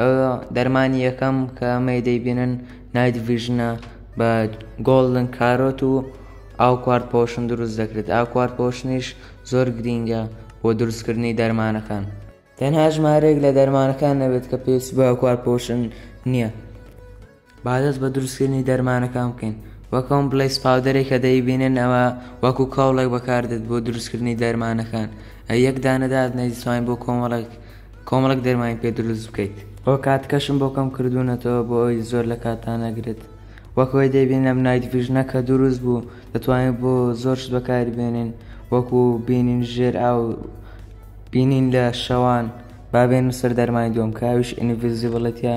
ئەوە دەرمانی یەکەم کە ئەمەی دەیبینن نایت ڤژنە بە گۆڵدن کارۆت و ئاو کوارد پۆشن دروست دەکرێت ئاو کوارد پۆشنیش زۆر گرینگە بۆ دروستکردنی دەرمانەکان تەنها ژمارەیەک لە دەرمانەکان نەبێت کە پێویست بە ئاو کوارد پۆشن نییە. با دەست بە دروستکردنی دەرمانەکان بکەین وەک ئەم بڵێیس پاودەرێک کە دەیبینن ئەوە وەکو کاوڵێک بەکاردێت بۆ دروستکردنی دەرمانەکان ئە یەک دانەدات نەیزتوانین بۆ کۆمەڵێک کۆمەڵک دەرمانی پێ دروست بکەیت بۆ کاتکەشم بۆ کەم کردوونەتەوە بۆ ئەوی زۆر لە کاتانەگرێت وەکەوەی دەیبین ئەم نایت ڤژنە کە دروست بوو دەتوانین بۆ زۆرشت بەکاری بێنین وەکو بینین ژێر ئاو بینین لە شەوان بابێن سەر دەرمای دوم کاویش ئینڤزیبڵەتە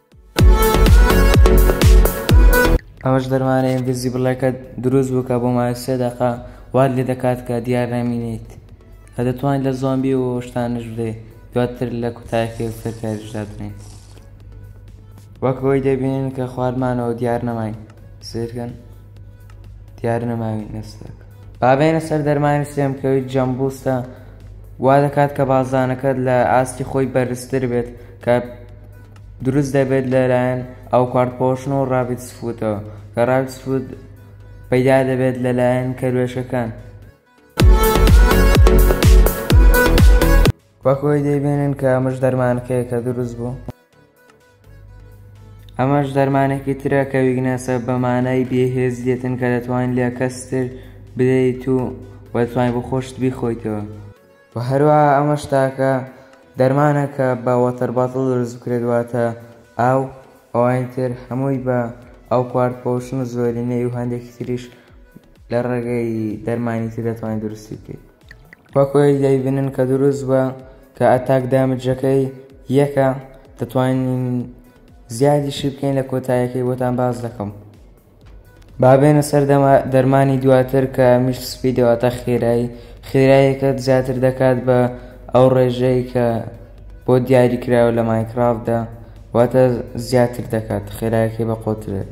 ئەوەش دەرمانەیە دزی بڵێکەت دروست بکە بۆ ماوەی سێ دەقە وات لێ دەکات کە دیار نامینیت کە دەتوانین لە زۆمبی و شتانش بدەیت دواتر لە کوتایەکی وتر کاریش دادنێن وەک ئەوەی دەبینین کە خوارمانەوە دیار نەماین سیرکەن دیار نەماوی نستێک بابێنە سەر دەرمانی سێم کەوی جەمبوستە وا دەکات کە بازانەکەت لە ئاستی خۆی بەرزتر بێت کە دروست دەبێت لەلایەن ئاوکارت پۆشن و ڕاڤیت سفوتەوە کە ڕاڤیت سفوت پەیدا دەبێت لەلایەن کەروێشکەکان وەک ئەوەی دەیبینن کە ئەمەش دەرمانەکەیە کە دروست بوو ئەمەش دەرمانێکی ترە کە ویگنەسە بە مانای بێهێز دێتن کە دەتوانین لە کەستر بدەیت و وەتوانین بۆ خۆشت بیخۆیتەوە و هەروەها ئەمەش تاکە دەرمانە کە بە وەتەر باتڵ دروست بکرێت واتە ئاو ئەوانی تر هەمووی بە ئەو کوارد پۆشن و زۆرینەی و هەندێکی تریش لە ڕێگەی دەرمانی تر دەتوانین دروستی بکەیت وەکۆی دەیبنن کە دروست بە کە ئەتاک دامجەکەی یەکە دەتوانین زیادیشی بکەین لە کۆتایەکەی بۆتان باز دەکەم با بێنە سەر دەرمانی دواتر کە مشت سپی دەواتە خێرایی خێراییەکەت زیاتر دەکات بە ئەو ڕێژەی کە بۆ دیاری کراوە لە ماینکرافتدا واتە زیاتر دەکات خێرایەکەی بە قۆترێت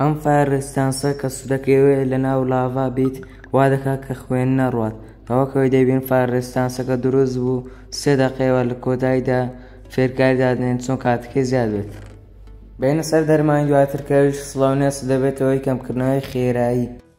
ئەم فایەر ڕیستانسە کە سودەکەوێ لە ناو لاڤا بیت وا دەکات کە خوێن نەڕوات کە وەک ئەوەی دەیبین فایەر ڕیستانسەکە دروست بوو سێ دەقەیەوە لە کۆتاییدا فێرکاری دادنێن چۆن کاتەکەی زیاد بێت بینە سەر دەرمانی دواتر کەویش سڵاونێس دەبێتەوەی کەمکردنەوەی خێرایی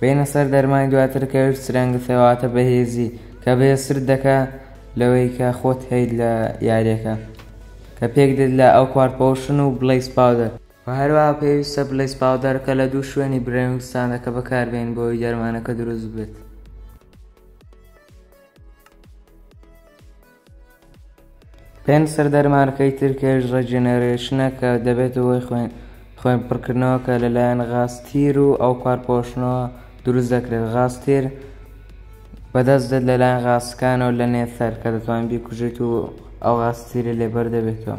بێنە سەر دەرمانی دواتر کە ویست رەنگت هەیە واتە بەهێزی کە بەهێزترت دەکا لەوەی کە خۆت هەیت لە یاریەکە کە پێک دێت لە ئەو کوار پۆشن و بڵیس پاودەر وە هەروەها پێویستە بڵیس پاودەر کە لە دوو شوێنی برەوین ستاندەکە بەکاربێن بۆ ئەوی دەرمانەکە دروست بێت. پێنسەر دەرمانەکەی ترکێش ڕێجێنێرێشنە کە دەبێتە هۆی خوێن پڕکردنەوە کە لەلایەن غاز تیر و ئەوپار پۆشنەوە دروست دەکرێت غاز تیر بەدەست دێت لەلایەن غاسکانەوە لە نێثەر کە دەتوان بیکوژێت و ئەو غاز تیرە لێبەر دەبێتەوە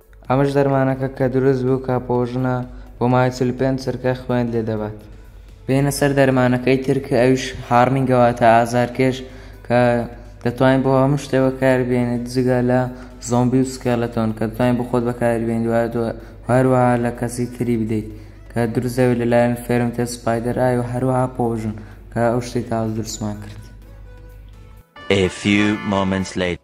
ئەمەش دەرمانەکە کە دروست بوو کاپۆوژنە بۆ ماوەی چل و پێنج چرکە خوێنت لێ دەبات بێنە سەر دەرمانەکەی تر کە ئەویش هاڕنینگە واتە ئازارکێش کە دەتوانین بۆ هەموو شتێ بەکار بێنێت جگە لە زۆمبی و سکێلەتۆن کە دەتوانین بۆ خۆت بەکاری بێنیت وایە هەروەها لە کەسی تری بدەیت کە دروست دەبێت لەلایەن فێرمتە سپایدەر ئای و هەروەها پۆژن کە ئەو شتەی تاز دروستمان کرد A few moments later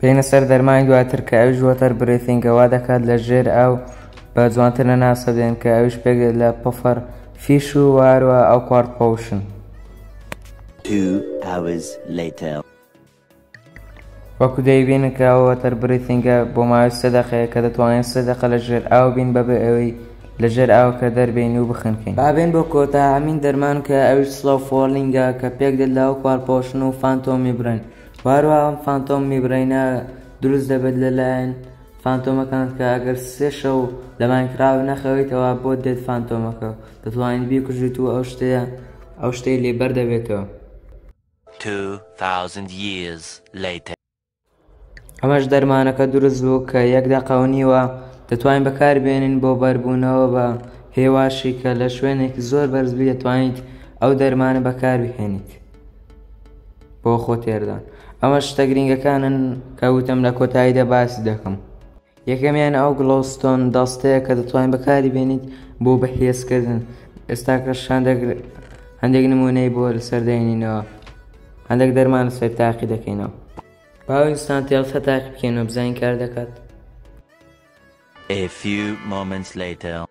بێینە سەر دەرمانی دواتر کە ئەویش وەتەر برێثینگە وا دەکات لە ژێر ئاو بە جوانتر نەناسە دێن کە ئەویش پێک لە پفەر فیش و وارە ئەو کوارد پۆشن Two hours later. وەکو دەیبینن کە ئەو وەتەر بریثینگە بۆ ماوەی سێ دەقەیە کە دەتوانین سێ دەقە لە ژێر ئاو بین بەبێ ئەوەی لە ژێر ئاوەکە دەربێین و بخنکین. با بێین بۆ کۆتاهەمین دەرمان کە ئەویش سڵۆ فۆڵینگە کە پێکدێت لە هۆکارپۆشن و فانتۆم میبرەین و هەروەها ئەم فانتۆم میبرەینە دروست دەبێت لەلایەن فانتۆمەکان کە ئەگەر سێ شەو لە ماینکراف نەخەویتەوە بۆت دێت فانتۆمەکە دەتوانیت بیکوژیت و ئەو شتەیە ئەو شتەی لێ بەردەبێتەوە. ئەمەش دەرمانەکە دروست بوو کە یەک دەقە و نیوە دەتوانین بەکار بێنین بۆ بەربوونەوە بە هێواشی کە لە شوێنێکی زۆر بەرز بی دەتوانیت ئەو دەرمانە بەکار بهێنیت بۆ خۆ تێردان ئەمە شتە گرنگەکانن کە وتم لە کۆتاییدا باسی دەکەم. یەکەمیان ئەو گڵۆستۆن دەستەیە کە دەتوانین بەکاری بێنیت بۆ بەهێزکردن ئێستاکە شاندێک هەندێک نمونەی بۆ لەسەر دێنینەوە هەندێک دەرمان سەر تاقی دەکەینەوە باویستان تێڵسە تاقی بکەینەوە بزانین کار دەکات A few moments later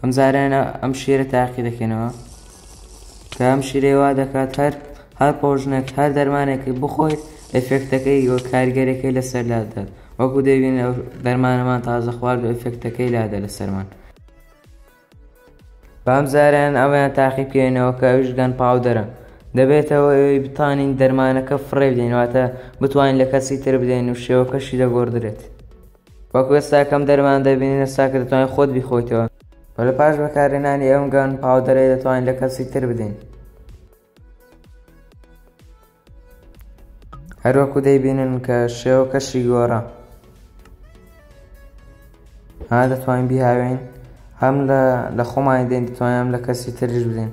ئەم زارەیانە ئەم شیرە تاقی دەکەنەوە کە ئەم شیرەی وا دەکات هەر هەر پۆژنێک هەر دەرمانێکی بخۆیت ئەفێکتەکەی وە کارگەرەکەی لەسەر لادات وەکو دەبین دەرمانەمان تازە خوارد و ئەفێکتەکەی لادە لەسەرمان بام زاران ئەویان تاقی بکەێنەوە کە ئەوش گەن پاودەرە دەبێتەوە ئەوی بتانین دەرمانەکە فڕێ بدەینواتە بتوانین لە کەسی تر بدەین و شێوەکەشی دەگۆدرێت وەکو ئێستا کەم دەرمان دەبینین ئێستا کە دەتوانین خۆت بیخۆیتەوە و لە پاش بەکارهێنانی ئەم گان پاودەرەی دەتوانین لە کەسی تر بدەین هەروەکو دەیبینن کە شێوە کەشی گۆڕە ها دەتوانین بیهاوێن هەم لە خۆمانی دێن دەتوانم لە کەسی ترش بدەین